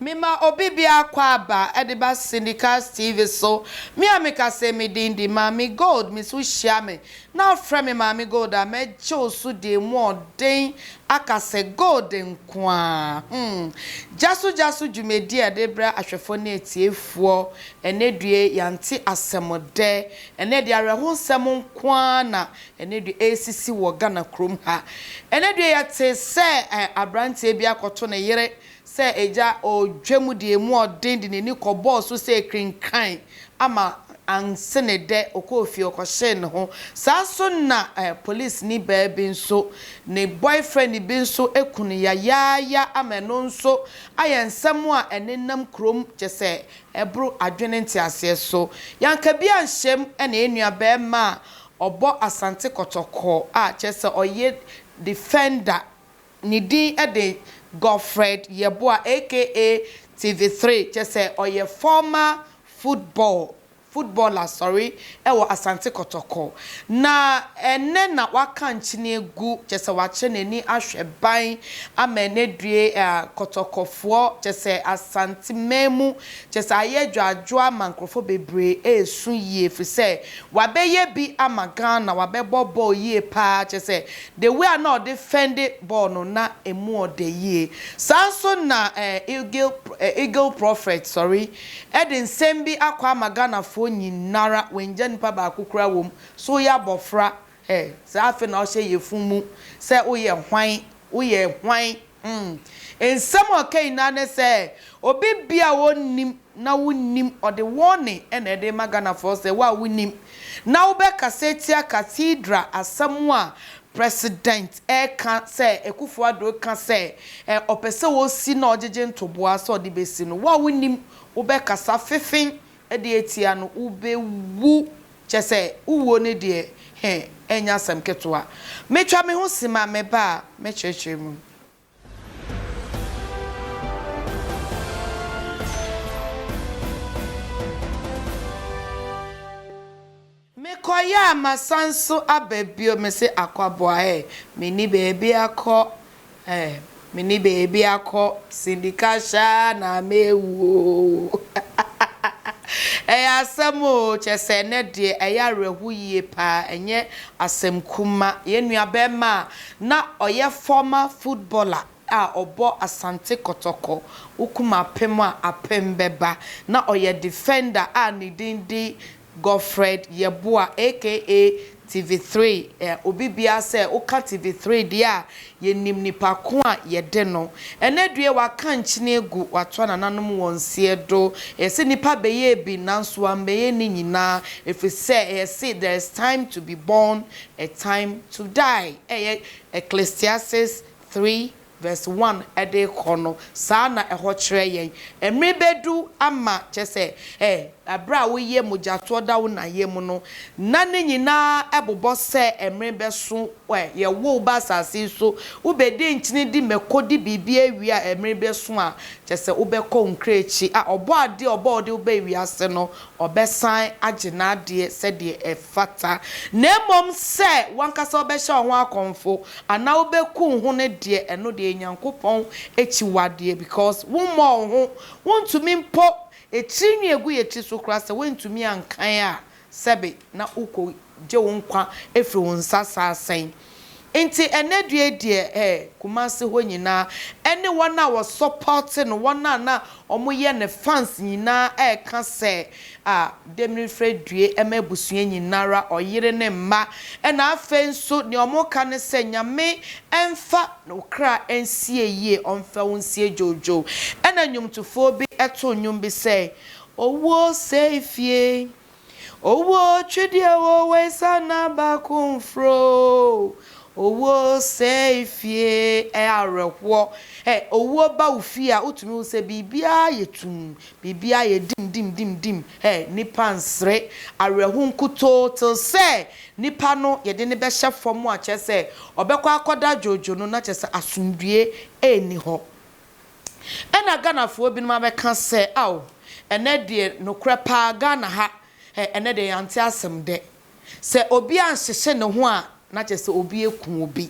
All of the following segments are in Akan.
Me ma obi bi akwaaba de ba Syndicast TV so, me a me ka se me din de Maame Gold, me so hyia me na afrɛ me Maame Gold a, mɛgye wo so de emu ɔden aka sɛ Gold nkoaa. Humm! Gyaso Gyaso dwumadi a yɛde rebrɛ ahwɛfoɔ ne atiefoɔ Ɛnnɛ due yɛante asɛmdɛ, ɛnnɛ deɛ awerɛhosɛm nko ara na ɛnnɛ due ɛresisi wɔ Ghana kurom ha. Ɛnnɛ due yɛte sɛ aberanteɛ bi akɔto ne yere sɛ agya ɔredwa mu deɛ ɛmu ɔden de n'ani kɔbɔɔ so sɛ ɛkenkan ama anse ne dɛ ɔkɔɔ fie ɔkɔhyee ne ho. Saa nso na polisini baa bi nso ne boyfriend bi nso aku no yayaaya ama ɛno nso ayɛ nsɛm a ɛnenam kurom kyɛ sɛ ɛboro adwene nteaseɛ so. Yankabia Nhyem na yɛn nua barima a ɔbɔ Asante Kɔtɔkɔ a kyerɛ sɛ ɔyɛ defender, ne din de Godfred Yeboah aka TV3, kyerɛ sɛ ɔyɛ former football, footballer sorry, wɔ Asante Kɔtɔkɔ, na ɛnnɛ na waka nkyene agu, kyerɛ sɛ wakyerɛ n'ani ahwɛ ban ama no adue Kɔtɔkɔfoɔ, kyerɛ sɛ Asanteman mu, kyerɛ sɛ ayɛ adwoadwoa ma nkurɔfoɔ bebree ɛresu yie, firi sɛ wabɛyɛ bi ama Ghana, wabɛbɔ bɔɔl yie pa ara, kyerɛ sɛ the way a na ɔde fɛnde bɔɔl no na ɛmu ɔdɛ yie. Saa nso na Eagle Eagle Prophet, sorry, Ɛde nsɛm bi akɔ ama Ghana foɔ nyinara wangya nipa baako koraa wɔ mu sɛ woyɛ abɔfra eh saa afei na ɔhyɛ yɛ fun mu sɛ woyɛ hwan woyɛ hwan hmm nsɛm a ɔka nyinaa ne sɛ obi bia a ɔnnim na wonim ɔde warning ɛna ɛde rema Ghana foɔ sɛ wo a wonim na wobɛkasa atia cathedral asɛm a President ɛka sɛ Akuffo Addo ka sɛ ɛ ɔpɛ sɛ ɔsi na ɔgyegye ntoboa sɛ ɔde bɛsi no. Wo a wonim wo bɛ kasa fefen de atia no wo bɛ wu kyɛ sɛ wo wuo no deɛ hɛ ɛnyɛ asɛm ketewa. Me twa me ho si ma me ba a mɛ kyerɛkyerɛ mu. Mekɔeɛ a masan nso aba bio me se akwaboa eh Menni baabi akɔ eh Menni baabi akɔ Sindika Shah na mewu ooh Ɛyɛ asɛm oo kyerɛ sɛ ɛnnɛ deɛ ɛyɛ awerɛhoyie paa ɛnyɛ asɛm kuma Yɛn nuabɛrima Na ɔyɛ former footballer a ɔbɔ Asante Kɔtɔkɔ, wokum apem a apem bɛba. Na ɔyɛ defender a ne din de Godfred Yeboah aka TV three, ɛ obi biara sɛ woka TV three deɛ a yɛnim nipa ko a yɛde no. Ɛnɛ due waka nkyene agu watoa nananom wɔn seɛ do, yɛse nipa bɛyɛɛ bi nanso wammɛyɛ ne nyinaa ɛfiri sɛ yɛse there is time to be born A Time to Die a ɛyɛ Ecclesiastes three verse one de rekɔ no, saa na ɛhɔ kyerɛ yɛn. Mmere bedu ama, kyerɛ sɛ, ɛ, bere a woyɛ mogyatoɔ da wo na yam no, na ne nyinaa bobɔ sɛ mmere bɛso, ɛ, yɛwo wo ba asase yi so, wobɛdi nkyene di mako di biribi awie a, mmere bɛso a, kyerɛ sɛ, wobɛkɔ wo nkra akyi a Ɔbɔadeɛ a ɔbɔɔ wo de wo baa wiase no, ɔbɛsan agye n'adeɛ sɛdeɛ ɛfata, na mmom sɛ w'ankasa wobɛhyɛ wo ho akɔmfo, anaa wobɛku wo ho no deɛ, ɛno deɛ yɛ Nyankopɔn akyiwadeɛ, because wommɔɔ wo ho, wontumi mpo, etiri nwi a egu yɛn tiri so koraa sɛ woantumi ankan a, sɛbe na wokɔ gye wo nkwa firi wo nsa saa sɛn. Nti ɛnnɛ due deɛ eh, Kumasi hɔ nyinaa ɛne wɔn a wɔ support no, wɔn a na wɔn yɛ ne fans nyinaa ɛɛka sɛ ah Demilifre due ɛma abusua nyinara, ɔyere ne mma. Ɛna afei nso deɛ wɔn ka ne sɛ Nyame ɛnfa wo kra ɛnsie yie, ɔnfa wo nsie dwoodwoo. Ɛna nnwomtofoɔ bi ɛtoo nnwom bi sɛ, Owuo sɛe fie, Owuo twedeɛ wo wei sana baako mfrɛ oo Owuo sɛe fie ɛ awerɛhoɔ ɛ Owuo ba wo fie a wotumi hu sɛ biribiara yɛ tumm Biribiara yɛ dim dim dim dim ɛ Nnipa nsere awerɛho nkutoo till sɛ nipa no yɛde no bɛhyɛ fam a kyerɛ sɛ ɔbɛkɔ akɔda dwodwo no na kyerɛ sɛ asomdwoeɛ nni hɔ. Ɛna Ghanafoɔ binom abɛka sɛ ao ɛnɛ deɛ nokorɛ paa Ghana ha ɛ ɛnɛ deɛ yɛante asɛm dɛ. Sɛ obi anhyehye ne ho a na kyerɛ sɛ obi aku obi.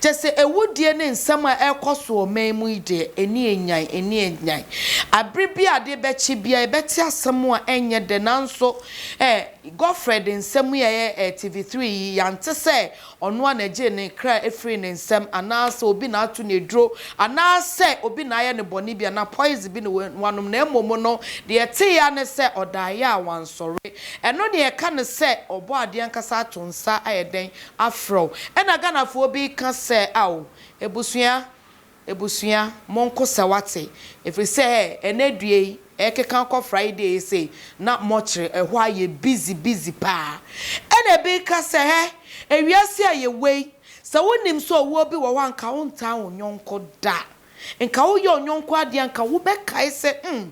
Kyerɛ sɛ awudie ne nsɛm a ɛrekɔ so wɔ man mu yi deɛ ani anyan ani anyan. Abere bi a adeɛ bɛkye biara yɛbɛte asɛm a ɛnyɛ dɛ nanso ɛ Godfred nsɛm yi a ɛyɛ TV3 yi yɛante sɛ Ɔno ara na ɛgyee ne kra firii ne nsam, anaasɛ obi na ato no aduro, anaasɛ obi na ayɛ no bɔne bi, anaa poison bi na wanom, na mmom no, deɛ ɛteeɛ ara ne sɛ ɔdaeɛ a wansɔre. Ɛno na yɛka no sɛ ɔbɔ adeɛ ankasa ato nsa ayɛ dɛn? Afrɛ wo. Ɛna Ghanafoɔ bi ka sɛ, Ao, abusua, Abusua, monko sɛ wate, ɛfiri sɛ ɛnɛ due yi, ɛrekeka kɔ Friday yi sei, na morkyere, ɛhɔ ayɛ busy busy paa. Ɛna ɛbi reka sɛ, hɛ, ewiase a yɛwɔ yi, sɛ wonim sɛ owuo bi wɔ hɔ a, nka wontaa wo yɔnko da. Nka woyɛ wo yɔnko adeɛ a, nka wobɛkae sɛ, hmm,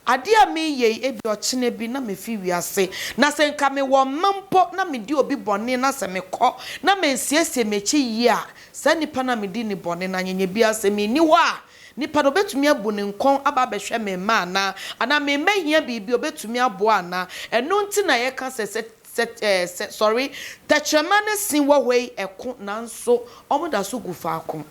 adeɛ a mereyɛ yi, ebia ɔkyena bi na mɛfi wiase. Na sɛ nka mewɔ mma mpo na medi obi bɔne na sɛ mekɔ na mansiesie m'akyi yie a, Saa nipa no a medi ne bɔne no anyɛnyɛ biara, sɛ menni hɔ a, nipa no, ɔbɛtumi abu ne nkɔn aba abɛhwɛ me mma anaa? Anaa memmɛhia biribi a, ɔbɛtumi aboa anaa? Ɛno nti na yɛka sɛ, sɛ, sɛ, ɛɛ, sɛ, sɔre, tɛkyerɛma ne se wɔ hɔ yi, ɛko, nanso wɔda so gu faako.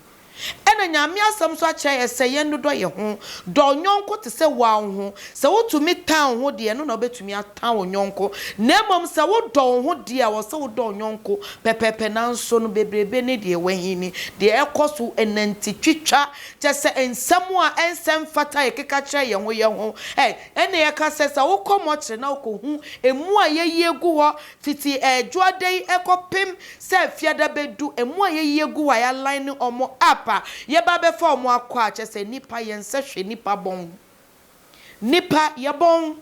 Ɛna Nyame Asɛm nso akyerɛ yɛn sɛ yɛnnodɔ yɛn ho. Dɔ wo yɔnko te sɛ woa wo ho. Sɛ wotumi tan wo ho deɛ, ɛno na wobɛtumi atɔ. ha wo yɔnko, na mmom sɛ wodɔ wo ho deɛ a, ɛwɔ sɛ wodɔ wo yɔnko pɛpɛɛpɛ. Nanso no, bebrebe ne deɛ ɛwɔ ahenni, deɛ ɛkɔ so, nante twitwa, kyerɛ sɛ, nsɛm a ɛnsɛ mfata a yɛkeka kyerɛ yɛn ho yɛn ho. Ɛ, ɛnna yɛka sɛ, sɛ wokɔ mɔkyere na wokɔhu emu a yɛayi agu hɔ fiti Dwoada yi kɔpem sɛ Fiada bɛdu, emu a yɛayi agu hɔ a yɛaline wɔn up a, yɛba bɛfa wɔn akɔ a, kyerɛ sɛ, nnipa, yɛnsɛ hwee, nnipa bɔn, nnipa, yɛbɔn.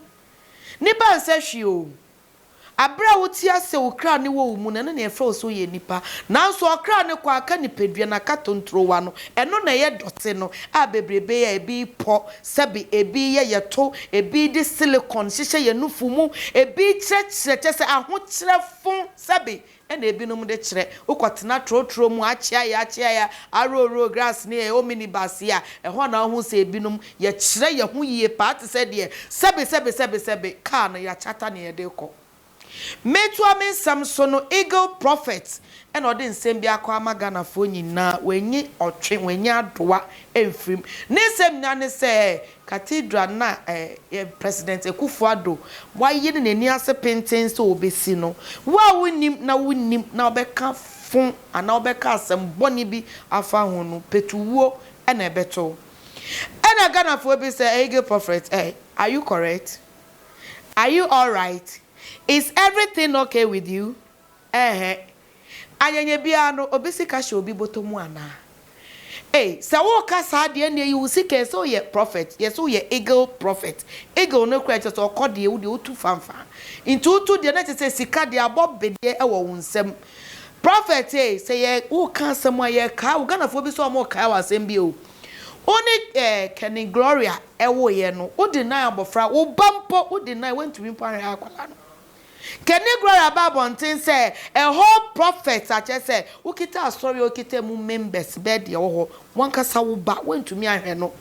Ne ba nsɛ hwee oo. Aberɛ a wote ase sɛ wo kra ne wɔ wo mu no, ɛno na yɛfrɛ wo sɛ woyɛ nipa. Nanso ɔkra no kɔ aka nipadua no aka tontrowa no, ɛno na ɛyɛ dɔte no a bebrebe yɛ a ebi pɔ, sɛbe ebi yɛ yɛto, ebi de silicone hyehyɛ yɛn nufu mu, ebi kyerɛkyerɛ kyerɛ sɛ ahokyerɛ fon, sɛbe Ɛna ebinom de kyerɛ, wokɔtena trotro mu, akyeaeɛ akyeaeɛ, arooro grass ne ɛ, omnibus yi a, ɛhɔ na wohu sɛ ebinom, yɛkyerɛ yɛn ho yie paa te sɛ deɛ sɛbesɛbesɛbesɛbe kaa no yɛakyata nea yɛde rekɔ. Metoa me nsɛm so no, Eagle Prophet na ɔde nsɛm bi akɔ ama Ghanafoɔ nyinaa, wannyi ɔtwe, wannyi adoa amfirim. Ne nsɛm nyinaa ne sɛ, Cathedral no a President Akufo Addo waye ne n'ani ase pintinn sɛ obesi no, wo a wunnim na wunnim na wobɛka fon anaa wobɛka asɛm bɔne bi afa ho no, petuwuo na ɛbɛto wo. Ɛna Ghanafoɔ bi sɛ Eagle Prophet eh, are you correct? Are you alright? Is everything okay with you? Ɛɛhɛɛ, Anyɛnyɛ biara no, obi sika hyɛ obi bɔtɔ mu anaa? Ei, sɛ woka saa deɛ ɛnneɛ yi wo sika ɛsɛ woyɛ prophet, yɛsɛ woyɛ eagle prophet, eagle no koraa kyerɛ sɛ ɔkɔ deɛ wo deɛ wotu fanfan, nti wotu deɛ na kyerɛ sɛ sika deɛ abɔ be deɛ ɛwɔ wo nsam. Prophet ei, sɛ yɛ woka asɛm a yɛ kae wo, Ghanafoɔ bi sɛ ɔmo kae wo asɛm bi o, wo ne eh, Kenny Gloria ɛwoeɛ no, wo deny abɔfra, wo ba mpo wo deny, woantumi mpo anhwɛ akwadaa no. Kenny Guerra ba abɔnten sɛ a whole prophet akyerɛ sɛ wokita asɔre a okita mu members bɛyɛ deɛ ɛwɔ hɔ wankasa wo ba woantumi anhwɛ no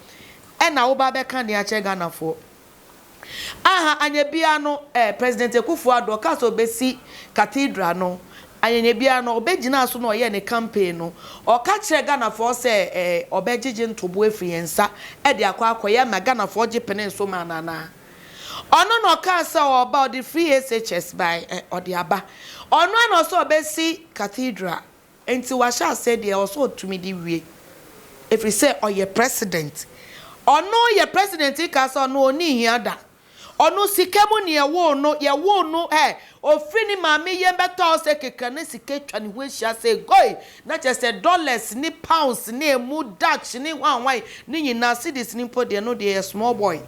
ɛna wo ba bɛka deɛ akyerɛ Ghanafoɔ aha anyɛ biara no eh President Akuffo Addo ɔkaa sɛ ɔbɛsi cathedral no anyɛ biara no ɔbɛgyinaa so na ɔyɛɛ ne campaign no ɔka kyerɛ Ghanafoɔ sɛ eh ɔbɛgyegye ntoboa afiri yɛn nsa ɛde akɔ akɔyɛ ma Ghanafoɔ gye penee so maa no anaa Ɔno na ɔkaa sɛ ɔreba, ɔde free SHS bae, ɛ, ɔde aba. Ɔno ara na ɔsɛ ɔbɛsi Cathedral. Enti wahyɛ aseɛ deɛ ɔwɔ sɛ ɔtumi de wie. Ɛfiri sɛ ɔyɛ President. Ɔno yɛ President yi kaa sɛ ɔno ɔnni hia da. Ɔno sika mu na yɛwoo no, yɛwoo no, ɛ, ɔfiri ne maame yam bɛtɔɔ sɛ kekra na sika atwa ne ho ahyia sɛ goi, Na kyerɛ sɛ dollars ne pounds ne emu Dutch ne hwanhwan ne nyinaa, cedis no mpo deɛ, ɛno deɛ ɛyɛ small boy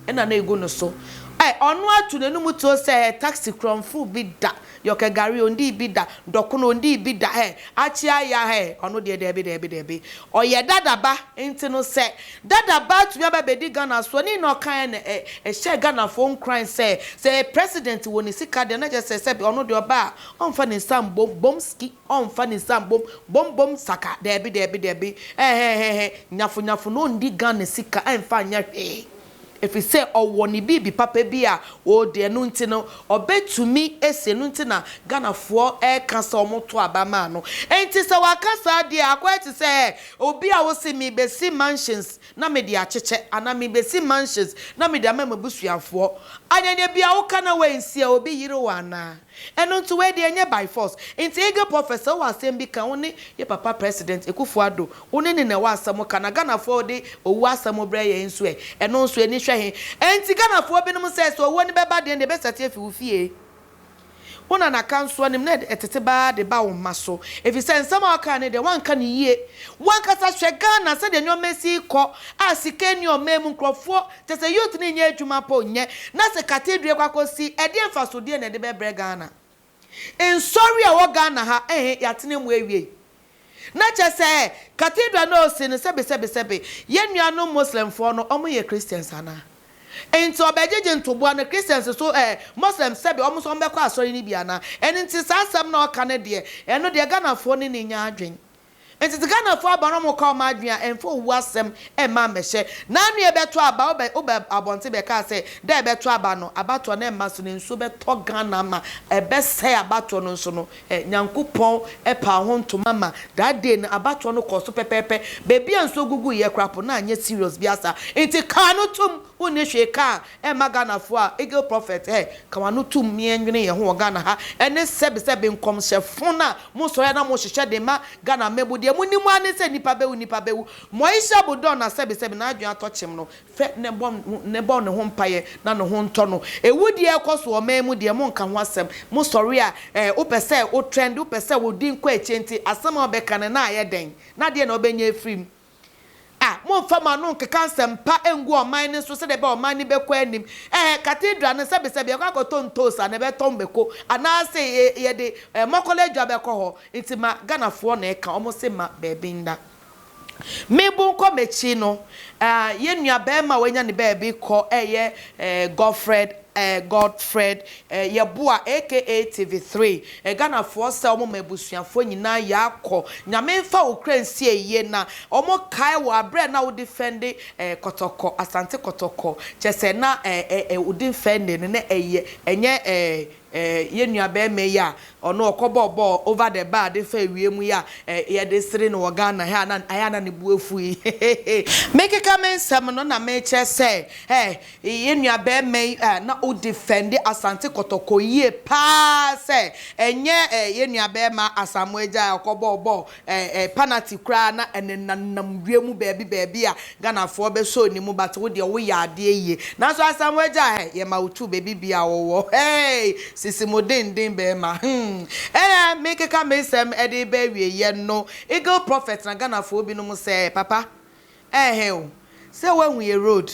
na na ɛgu no so. Ɛ, ɔno atu n'anum tuo sɛ, ɛ, taxi korɔmfoo bi da, yɔkɛ gari ɔndii bi da, dɔkono ɔndii bi da, ɛ, akye aya, ɛ, ɔno deɛ daabi, daabi, daabi. Ɔyɛ Dada ba, nti no sɛ Dada ba atumi aba abɛdi Ghana soɔ, ne nyinaa ɔkaeɛ no, ɛ, ɛhyɛɛ Ghanafoɔ nkuran sɛ, sɛ president wɔ ne sika deɛ, na kyerɛ sɛ sɛbe ɔno deɛ ɔba a, ɔmfa ne nsa mmɔ bom ski. Ɔmfa ne nsa mbom bom bom saka daabi daabi daabi ɛhɛhɛhɛ nyafo nyafo na ɔndi Ghana sika ɛmfa nyɛ hwee efisɛ ɔwɔ ne biribi papa bi a ɔɔdi ɛno nti no ɔbɛtumi asi ɛno nti na Ghanafoɔ ɛɛka sɛ ɔmo to aba maa no ɛnti sɛ waka saa deɛ akɔyɛ te sɛ obi a ɔse mebɛsi mansions na mede akyekyɛ anaa mebɛsi mansions na mede ama mabusuafoɔ anyanya bia woka na wɛnsi a obi yere wo anaa? Ɛno nti wei deɛ ɛnyɛ by force. Nti Eagle Prophet sɛ wowɔ asɛm bi ka, wo ne yɛ papa President Akuffo Addo, wo ne no na ɛwɔ asɛm ka. Na Ghanafoɔ wode owuo asɛm brɛ yɛn nso ɛ? Ɛno nso ani hwɛ he? Ɛnti Ghanafoɔ binom sɛ, sɛ owuo no bɛba deɛ nneɛ ɛbɛsate afi wo fie. Wo nana ka nso ɔnim na ɛtete ba ara de ba wo mma so. Ɛfiri sɛ nsɛm a wokae no deɛ woanka no yie. Wo ankasa hwɛ Ghana sɛdeɛ nneɛma si rekɔ a sika nni ɔman mu, nkurɔfoɔ. Kyerɛ sɛ youth no nyɛ adwuma po nyɛ na se cathedral kɔ akɔ si ɛdeɛ mfaso deɛ na ɛde bɛ brɛ Ghana? Nsɔre a ɛwɔ Ghana ha ehe yɛatena mu awiei? Na kyerɛ sɛ cathedral no a ɔsi no sɛbe sɛbe sɛbe yɛn nuanom Muslim foɔ no ɔmo yɛ Christians anaa? Nti ɔbɛgyegye ntoboa no Christians so ɛɛ Muslim sɛbe ɔmo nso ɔmo bɛkɔ asɔre no bi anaa? Ɛno nti saa asɛm no a ɔka no deɛ ɛno deɛ Ghana foɔ no nni nyaa adwen Ntsi Ghanafo aban ɔmo ka ɔmo adwen a ɛmmfa owu asɛm mma mmɛhyɛ. N'anoa ebɛtɔ aba a obɛ oba abɔntsen bɛkaa sɛ dɛ ebɛtɔ aba no abatoɔ no mma so na nsuo bɛtɔ Ghana ma ɛbɛsɛɛ abatoɔ no nso no ɛ Nyankopɔn ɛpaa ho ntoma ma that day no abatoɔ no kɔɔ so pɛpɛɛpɛ beebi a nsuo guguiɛ koraa po no annyɛ serious biasa ntsi kaa no tom Wonni hwee ka a ɛmma Ghanafoɔ a Eagle Prophet ɛ ka w'ano tom ne ɛnwene yɛn ho wɔ Ghana ha ɛne sɛbe sɛbe nkɔmhyɛ fon a mo sɔre a na mo hyehyɛ de ma Ghana mmabu deɛ mo nim ara ne sɛ nipa bɛwu nipa bɛwu Moisha Budon na sɛbe sɛbe n'adwene atɔ kyem no fɛ ne bɔ ne bɔ ne ho mpaeɛ na ne ho ntɔ no Ɛwu deɛ ɛkɔ so wɔ man mu deɛ mo nka ho asɛm mo sɔre a ɛ wo pɛ sɛ wo trend wo pɛ sɛ wo din kɔ akyire nti asɛm a wo bɛ ka no na ayɛ dɛn na deɛ na wo bɛ nya afiri mu A Mommfa mo ano nnkeka nsɛm pa nngu ɔman no so sɛdeɛ ɛbɛyɛ a ɔman no bɛkɔ anim. Ɛhɛ, cathedral no, sɛbesɛbe yɛkɔ akɔtɔ ntoosi anaa yɛbɛtɔn mako anaase yɛde mɔkɔla adwa bɛkɔ hɔ nti ma Ghanafoɔ na ɛka, wɔn se ma baabi nna. Me bo nkɔ m'akyi no, yɛn nuabarima a wanya ne baabi kɔ ɛyɛ Godfred Eh Godfred eh Yeboah aka TV three eh Ghana foɔ sɛ ɔmo ma abusuafoɔ nyinaa yɛ akɔ Nyame nfa wo kra nsie yie na ɔmo kae wo abrɛ na wo defende eh kɔtɔkɔ Asante kɔtɔkɔ kyɛsɛ na eh eh eh wo defende no na ɛyɛ ɛnyɛ eh eh yɛ nua bɛɛma yi a ɔno ɔkɔ bɔ bɔ over the bar de fa awie mu yi a eh yɛde sere no wɔ Ghana ha na ayɛ a na ne bo afu yi hehehe mekeka me nsɛm no na mekyerɛ sɛ eh Yɛn nuabarima yi a na ɔdifɛnde Asante Kɔtɔkɔ yie pa ara sɛ ɛnyɛ yɛn nuabarima Asamoah Agyai a ɔkɔbɔɔ bɔɔl panati koraa na ɛnenam wiem baabi baabi a Ghanafoɔ bɛsɔɔ ne mu but wo deɛ woyɛ adeɛ yie. Nanso Asamoah Agyai hɛ yɛma wo tu baabi biara a wowɔ hɛɛi sisi mu denden barima hmm. Ɛnna merekeka me nsɛm de reba awieeɛ no Eagle Prophet na Ghanafoɔ binom sɛ papa Ɛɛhɛ o, sɛ woahu yɛ road.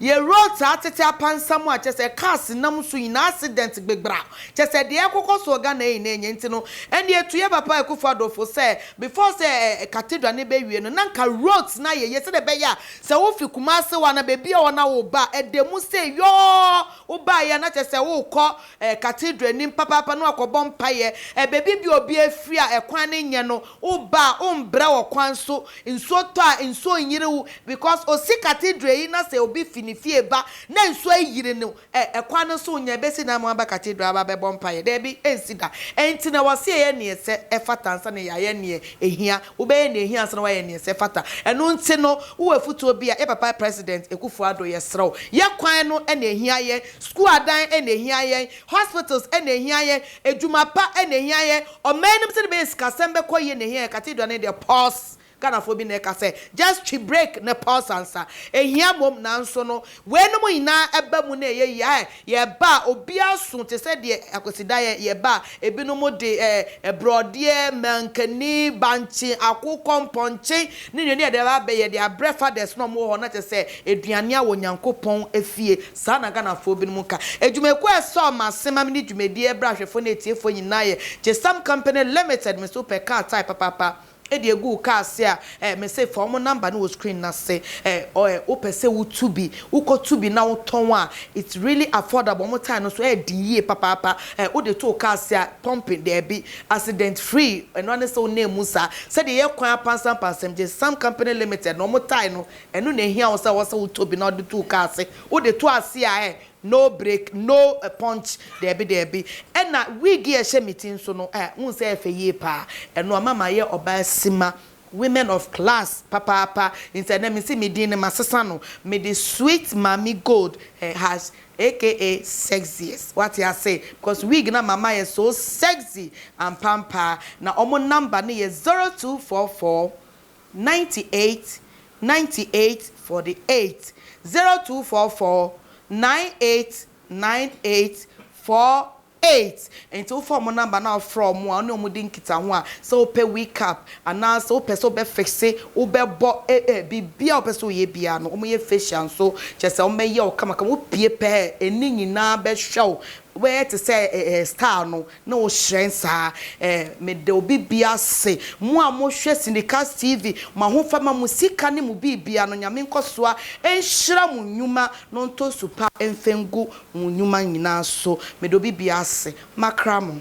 Yɛ road saa tete apansam a kyerɛ sɛ cars nam so nyinaa accident gbegbra. Kyerɛ sɛ deɛ ɛrekokɔ soɔ Ghana yi na ɛnyɛ nti no ɛnneɛ ɛtu yɛ papa Akuffo Addo fo sɛ before sɛ cathedral no bɛwie no na nka roads no ayɛ yie sɛdeɛ ɛbɛyɛ a sɛ wofi Kumasi hɔ anaa baabiara hɔ na woreba a ɛda mu sɛ yɔɔ wobaeɛ a na kyerɛ sɛ worekɔ Eh, cathedral nim papaapa na wakɔbɔ mpaeɛ eh, baabi bia obiara firi a ɛkwan no nyɛ no, wo ba a wo mbrɛ wɔ kwan so, nsuo tɔ a nsuo nyere wo because osi cathedral yi na sɛ obi fi ne fie ba na nsuo ayire no eh, ɛkwan no nso nyɛ bɛsi na ama waba cathedral aba bɛbɔ mpaeɛ, daabi ɛnsi da, ɛnti na wɔse yɛyɛ neɛ ɛsɛ ɛfata ansa na yɛayɛ neɛ ɛhia. Wobɛyɛ nea ehia ansa na woayɛ nea ɛsɛ fata. Ɛno nti no, wowɔ afutuo bi a, yɛ papa President Akufo Addo, yɛsrɛ wo, yɛ kwan no na ehia yɛn, sukuu adan na ehia yɛn, hospitals na ehia yɛn, adwuma pa na ehia yɛn, ɔman no mu sɛdeɛ ɛbɛyɛ sikasɛm bɛkɔ yie na ehia yɛn, Cathedral no deɛ pause, Ghanafoɔ bi na ɛka sɛ, just twi break na pause ansa, ehia mmom, nanso no, Weinom nyinaa ɛba mu na ɛyɛ yea ɛ, yɛba a obiara so te sɛ deɛ Kwasida yɛ, yɛba a ebinom de ɛ, borɔdeɛ, mankani, bankye, akokɔ, mpɔnkye ne nnuane a yɛde aba abɛyɛ de abrɛ fathers no a wɔwɔ hɔ na kyerɛ sɛ aduane a wɔ Nyankopɔn fie, saa na Ghanafoɔ binom ka. Adwumakuo a ɛsɛ ɔmanse ma me ne dwumadie ɛberɛ ahwɛfoɔ ne atiefoɔ nyinaa yɛ Gyesam Company Limited, me nso pɛ car tyre papaapa, de agu wo kaa ase a, eh, mese fa wɔn number no wɔ screen no ase, eh, ɔ eh, wopɛ sɛ wotu bi, wokɔtu bi na wotɔn a, it's really affordable, wɔn tae no nso ɛyɛ den yie papaapa, eh, wode to wo kaa ase a, pumping, daabi, accident free, ɛno ara ne sɛ wonam mu saa, sɛdeɛ ɛyɛ kwan apansampansam, gye Sam Company Limited no, wɔn tae no, ɛno na ɛhia wo sɛ ɛwɔ sɛ wotɔ bi na wode to wo kaa ase, wode to ase a, eh, No break, no punch, daabi daabi. Ɛna wig yi a ɛhyɛ me ti nso no, eh, wohu sɛ ɛyɛ fɛ yie paa. Ɛno ama mayɛ ɔbaa simma, women of class papaapa. Nti ɛnnɛ mese me din no masesa no, mede Sweet Maame Gold eh, has aka Sexiest. Woate ase? Because wig no ama mayɛ so sexy ampampaa. Na wɔn number no yɛ zero two four four 98 98 48 0244 9898 48 Nti wofaa ɔmo number na wofrɛ ɔmo a wone ɔmo di nkitaho a sɛ wopɛ wecap anaa sɛ wopɛ sɛ wobɛ fixe wobɛbɔ eh biribiaa wopɛ sɛ woyɛ biaa no ɔmo yɛ facial nso kyerɛ sɛ ɔmo bɛyɛ wo kamakama wopie pɛɛ ɛne nyinaa bɛhwɛ wo wobɛyɛ te sɛ eh style no na ɔhyerɛn saa eh Meda obi bia ase mo a mo hwɛ Sindicast TV mo ahofama mo sika ne mo biribia no Nyame nkɔsoa nhyira mo nnwuma na ɔntɔ su pa mfa ngu mo nnwuma nyinaa so Meda obi bia ase makra mo.